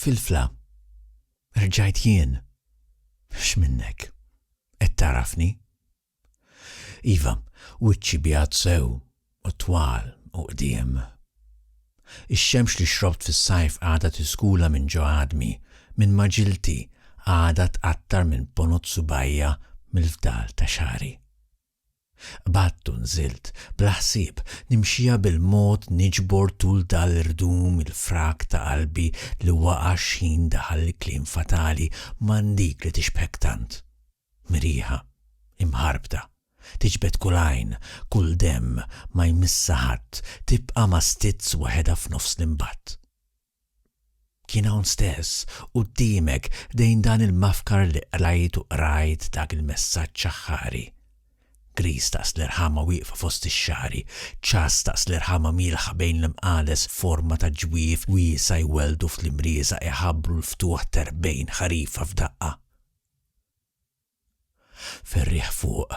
Filfla, Rġajt jien? X'minnek? Qed tagħrafni? Iva, wiċċi bjad sew u twal u qdiem. Ix-xemx li xrobt fis-sajf għadha tiskula minn ġo għadmi, minn maġilti, għadha tqattar minn ponot subgħajja mill-fdal ta' xagħri. Qbadt u nżilt, bla ħsieb, nimxija bil-mod niġbor tul dal-irdum il-frak ta' qalbi li waqa' x'ħin daħal il-kliem fatali, man dik li tixbħek tant. Mrieħa. Imħarbta. Tiġbed kull għajn, kull demm, ma jmissha ħadd, tibqa' ma' stizz waħedha f'nofs l-imbatt. Kien hawn stess, quddiemek, ħdejn dan il-mafkar li qrajt u qrajt dak il-messaġġ aħħari. Griż daqs l-irħama wieqfa fost ix-xagħri, ċass daqs l-irħama mielħa bejn l-imqales f'forma ta' ġwiev wiesa' jwelldu fl-imrieża iħabbru l-ftuħ t'erbgħin ħarifa f'daqqa. Fir-riħ fuq,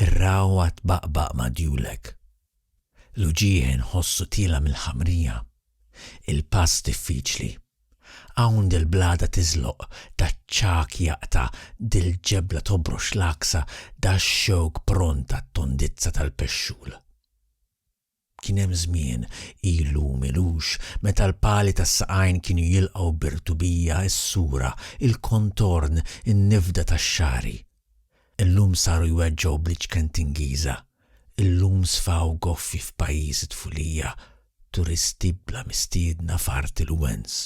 ir-ragħwa tbaqbaq ma' djulek. L-uġigħ inħossu tiela' mill-ħamrija. Il-pass diffiċli. Hawn dil-blada tiżloq, daċ-ċagħaq jaqta', dil-ġebla tobrox l-għaksa, dax-xewk pront għat-tondizza tal-pexxul. Kien hemm żmien, ilu m'ilux, meta l-pali tas-saqajn kienu jilqgħu bir-rtubija s-sura, il-kontorn, in-nifda tax-xagħri. Illum saru jweġġgħu bl-iċken t'Ingiża. Illum sfaw goffi f'pajjiż it-tfulija, turisti bla mistiedna f'art il-wens.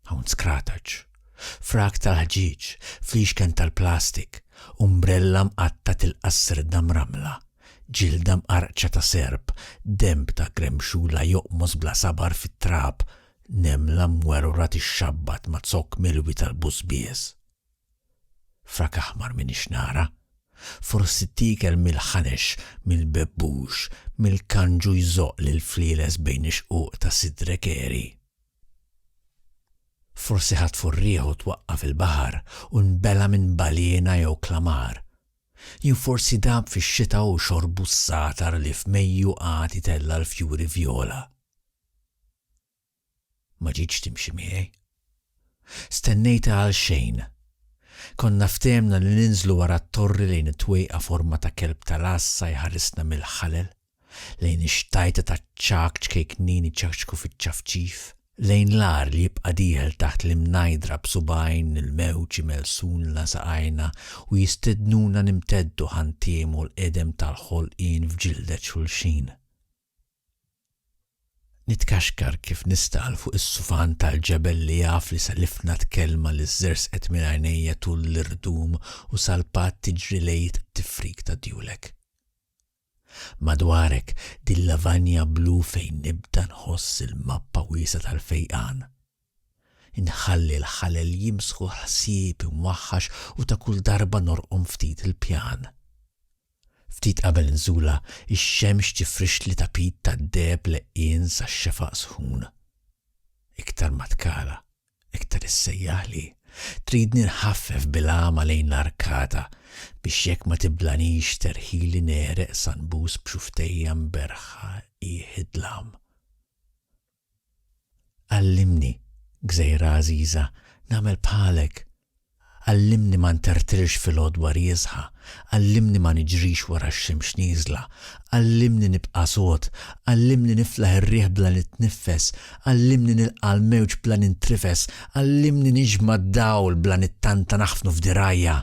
Hawn skrataċ, frak tal-ħġieġ, flixken tal-plastik, umbrella mqatta' tilqa' s-sirda mrammla, ġilda mqarrqċa ta' serp, denb ta' gremxula joqmos bla sabar fit-trab, nemla mwerwra tixxabbat ma' zokk milwi tal-bużbież. Frak aħmar m'iniex nara. Forsi t-tiekel mill-ħanex, mill-bebbux, mill-kanġu jżoqq lill-flieles bejn ix-xquq ta' sidre kehri. Forsi ħadd furrieh u twaqqa' fil-baħar u nbela' minn baljena jew klamar. Jew forsi dab fix-xita u xorbu s-sagħtar li f'Mejju qagħad itella' l-fjuri vjola. Ma ġietx timxi miegħi. Stennejtha għalxejn. Konna ftehemna li ninżlu wara t-torri lejn it-twejqa forma ta' kelb tal-għassa jħarisna mill-ħalel. lejn ix-xtajta taċ-ċagħaq ċkejknin iċakċku fiċ-ċafċif, lejn l-agħar li jibqa' dieħel taħt l-imnajdra b'subgħajn il-mewġ imelsunlna saqajna u jistednuna nimteddu ħantiemu l-qedem tal-ħolqien f'ġildet xulxin. Nitkaxkar kif nistagħal fuq is-sufan tal-ġebel li jaf li selifna t-kelma li żersqet minn għajnejja tul l-irdum u salpat tiġri lejt tifrik ta' djulek. Madwarek, din lavanja blu fejn nibda nħoss il-mappa wiesgħa tal-fejqan. Inħalli l-ħalel jimsħu l-ħsieb imwaħħax u ta' kull darba norqom ftit il-pjan. Ftit qabel nżula, ix-xemx tifrixli tapit tad-deheb leqqien sax-xefaq sħun. Iktar ma tkala, Iktar issejjaħli. Tridni nħaffef bil-għama lejn l-arkata biex jekk ma tiblanix terħili negħreq sa nbus b'xufftejja mberħħa jħidlam. Għallimni, gżejra għażiża, nagħmel bħalek! Għallimni ma ntertrilx fil-għodwa riesħa, għallimni ma niġrix wara x-xemx nieżla, għallimni nibqa' sod, għallimni niflaħ ir-riħ bla nitniffes, għallimni nilqa' l-mewġ bla nintrifes, għallimni niġma' d-dawl bla nittanta naħfnu f'dirgħajja,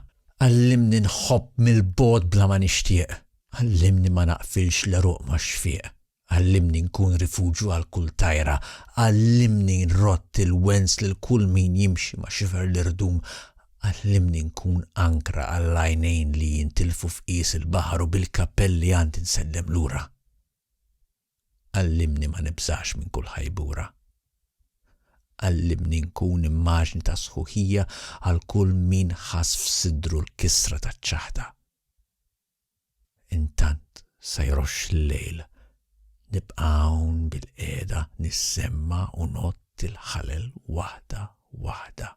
għallimni nħobb mill-bogħod bla ma nixtieq, għallimni ma naqfilx l-għeruq max-xfieq. Għallimni nkun rifuġju għal kull tajra, Għallimni nrodd il-wens lil kull min jimxi ma' xifer l-irdum, Għallimni nkun ankra għall-għajnejn li jintilfu f'qies il-baħar u bil-kappell li għandi nsellem lura. Għallimni ma nibżax minn kull ħajbura. Għallimni nkun immaġni ta' sħuħija għal kull min ħass f'sidru l-kisra taċ-ċaħda. Intant sa jroxx il-lejl, nibqa' hawn bilqiegħda nissemma' u ngħodd il-ħalel waħda waħda.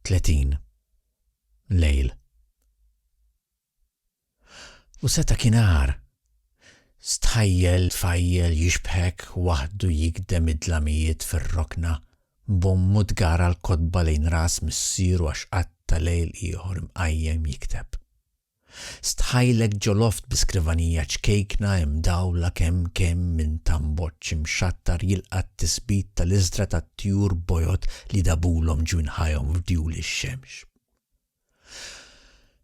30 lejl U seta' kien agħar. Stħajjel tfajjel jixbħek waħdu jigdem id-dlamijiet fir-rokna, b'ommu tgara l-kotba lejn ras missieru għax qatta' lejl ieħor imqajjem jikteb. Stħajlek ġoloft bi skrivanija ċkejkna imdawla kemm kemm minn tamboċċ imxattar jilqa' t-tisbit tal-iżdra tat-tjur bojod li dabulhom ġwinħajhom f'djul ix-xemx.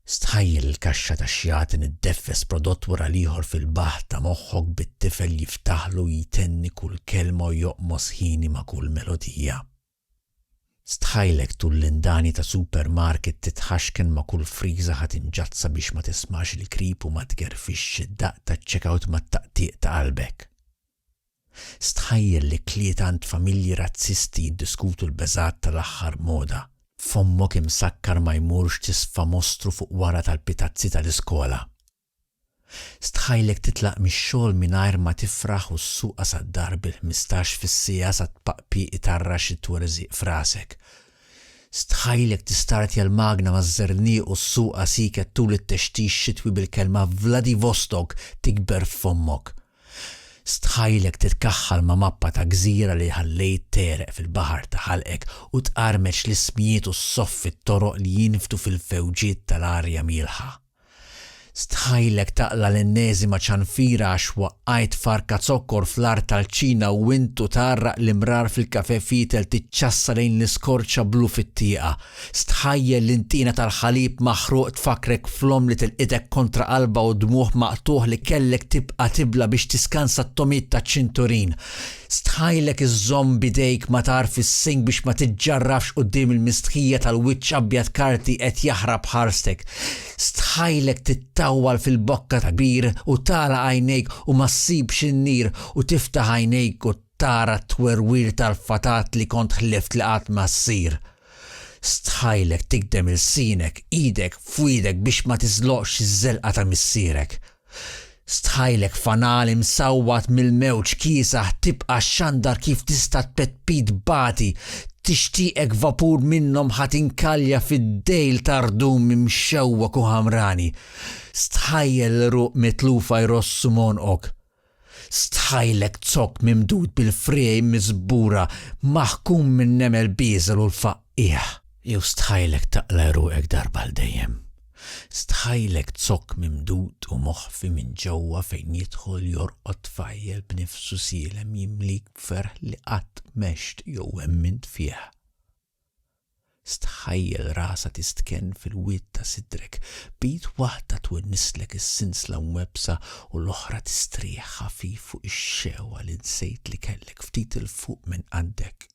Stħajjel il-kaxxa tax-xjatin iddeffes prodott wara l-ieħor fil-baħħ ta' moħħok bit-tifel jiftaħlu jtenni kull kelma u joqmos ħini ma' kull melodija. Stħajlek tul l-indani ta' supermarket titħaxken ma' kull friża ħa tinġadd sabiex ma tismax il-krip u ma tgerfixx id-daqq taċ-checkout mat-taqtiq ta' qalbek. Stħajjel li kliet għand familji razzisti jiddiskutu l-beżgħat tal-aħħar moda. F'ommok imsakkar ma jmurx tisfa mostru fuq wara tal-pitazzi tal-iskola. Stħajlek titlaq mix-xogħol mingħajr ma tifraħ u ssuqha sad-dar bil-ħmistax fis-siegħa sa tpaqpiq itarrax it-twerżiq f'rasek. Stħajlek tistartja l-magna maż-żerniq u ssuqha siket tul it-textix xitwi bil-kelma Vladivostok tikber f'fommok. Stħajlek titkaħħal ma' mappa ta' gżira li ħallejt tegħreq fil-baħar ta' ħalqek u tqarmeċ l-ismijiet u ssoffi t-toroq li jinfdu fil-fewġiet tal-arja mielħa. Stħajlek taqla' l-enneżima ċanfira għax waqqajt farka zokkor fl-art tal-ċina u int u tgħarraq l-imrar fil-kafè fietel tiċċassa lejn l-iskorċa blu fit-tieqa, Stħajjel li ntina tal-ħalib maħruq tfakkrek fl-omm li tilqitek kontra qalbha u dmugħ maqtugħ li kellek tibqa' tibla biex tiskansa t-tomiet taċ-ċinturin. Stħajlek iżżomm b'idejk matar fis-sink biex ma tiġġarrafx quddiem il-mistħija tal-wiċċ abjad karti qed jaħrab ħarstek. Stħajlek tittawwal fil-bokka ta' kbir u tagħlaq għajnejk u ma ssibx in-nir u tiftaħ għajnejk u tara t-twerwir tal-fatat li kont ħlift li qatt ma ssir. Stħajlek tigdem ilsienek, idek f'widek biex ma tiżloqx iż-żelqa ta' missierek. Stħajlek fanali msawwat mill-mewġ kiesaħ tibqa' xxandar kif tista' tpettpit bati, tixtieqek vapur minnhom ħa tinkalja fid-dejl ta' rdum imxewwek u ħamrani. Stħajjel l-għeruq mitlufa jrossu m'għonqok. Stħajlek zokk mimdud bil-friegħi miżbura maħkum minn nemel bieżel u l-faqqigħ. Jew stħajlek taqla' għeruqek darba għal dejjem. Stħajlek zokk mimdud u moħfi minn ġewwa fejn jidħol jorqod tfajjel b'nifsu sielem jimlik b'ferħ li qatt m'għext jew emmint fih. Stħajjel rasha tistkenn fil-wied ta' sidrek, b'id waħda twennislek is-sinsla mwebbsa u l-oħra tistrieħ ħafif fuq ix-xehwa li nsejt li kellek ftit 'il fuq minn qaddek.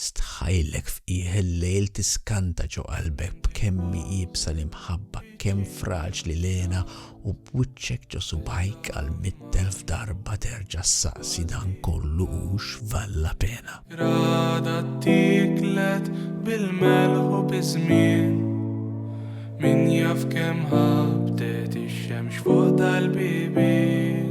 Stħajlek f'qiegħ il-lejl tiskanta ġo qalbek b'kemmi iebsa l-imħabba, kemm fraġli l-hena u b'wiċċek ġo subgħajk għal mitt elf darba terġa' ssaqsi dan kollu hux valla pena. Rada ttieklet bil-melħ u biż-żmien. Min jaf kemm ħabtet ix-xemx fuq dal-bibien.